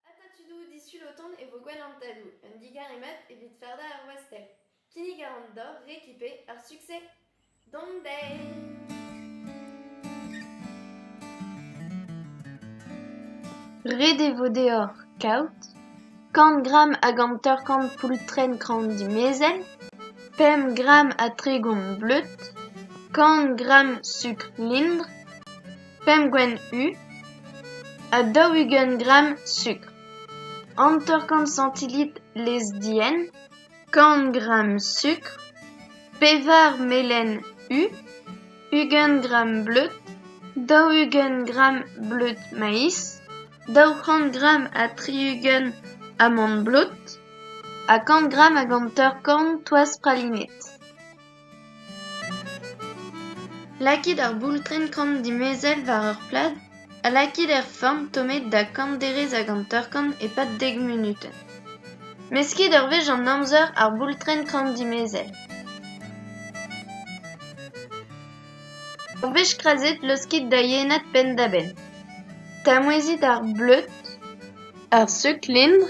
Atatudoù disul o tont e vo gwell an tadoù, un digaremad evit fardañ ar wastell. Kinnig a ran deoc'h rekipe ar succès d'an deiz! Ret e vo deoc'h kaout kant gramm hag hanter-kant poultrenn kran dimezell, pemp gramm ha tregont bleud, kant gramm sukr lindr, pemp gwenn u ha daou-ugent gramm sukr, hanter-kant santilit lez-dienn, kant gramm sukr, pevar melen u, ugent gramm bleud, daou-ugent gramm bleud maiz, daou-c'hant gramm ha tri-ugent amant-blot ha kant gramm hag hanter-kant toaz pralinet. Lakit ar boultrenn-kann dimezell war ur plad ha lakit er forn tommet da kant derez hag hanter-kant e-pad dek munutenn. Meskit ur wech an amzer ar boultrenn-kann dimezell. Ur wech krazet, laoskit da yenad penn-da-benn. Tamwezit ar bleud, ar seuk-lintr.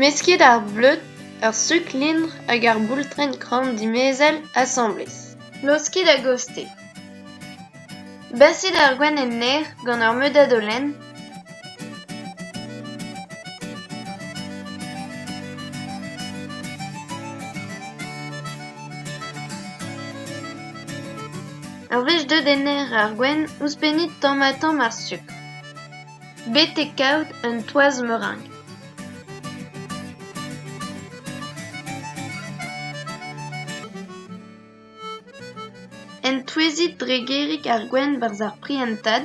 Mesket ar bleud, ar suklin hag ar boultrenn kran dimezell asambles. Laoskit a-gostez. Basit ar gwenn en aer gant ur meudad holen. Ur wech deuet en aer ar gwenn, ouzhpennit tamm-ha-tamm ar sukr. betek kaout un toaz meureñ. Entouezit dre gêrig ar gwenn 'barzh ar prientad.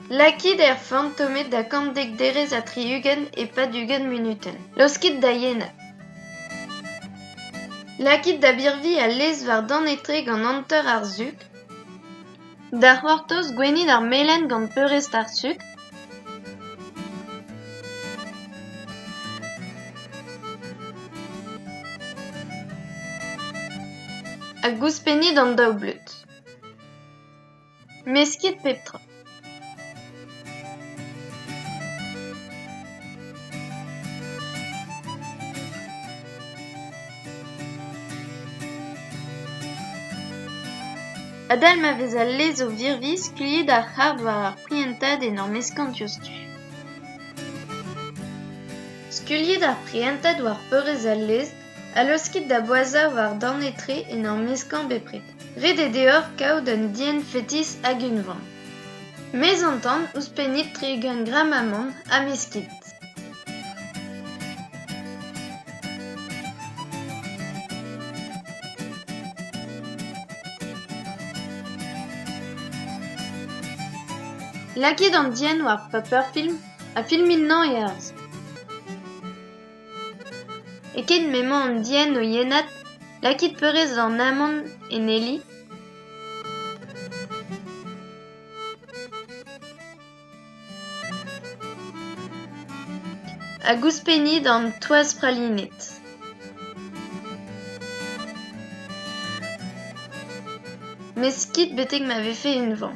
Lakit er fantomet da kantdek derez ha tri-ugent e-pad ugent munutenn. Laoskit da yenad. Lakit da birviñ al lez war-dan etre gant hanter ar suk. Da c'hortoz gwenit ar melen gant peurrest ar suk. Hag ouzhpennit an daou bleud. Meskit pep tra. Adal ma vez al lez o virviñ, skuilhit ar c'harr war ar prientad en ur meskañ diouzhtu. Skuilhit ar prientad war peurrest al lez ha laoskit da boazhañ war-dorn etre en ur meskañ bepred. Ret eo deoc'h kaout un dienn fetis hag unvan. Mez an tan ouzhpennit tre gant gram amann ha meskit. Lakit an dienn war paperfilm ha filmit-nañ e-harz. E-keit m'emañ an dienn o yenad, lakit peurrest an amann en heli. Hag ouzhpennit an toaz pralinet. Meskit betek ma vefe unvan.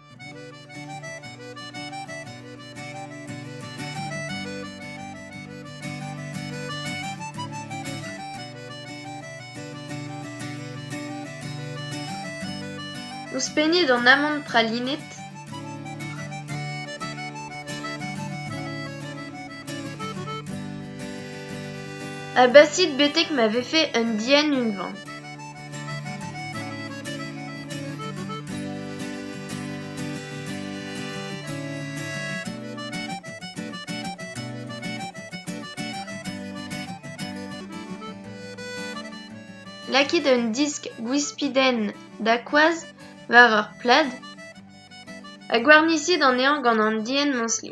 Ouzhpennit an amann pralined. Abasit betek ma vefe un dienn unvan. Lakit un disk gwispidenn da koaz war ur plad ha gwarnisit anezhañ gant an dienn-mañsli.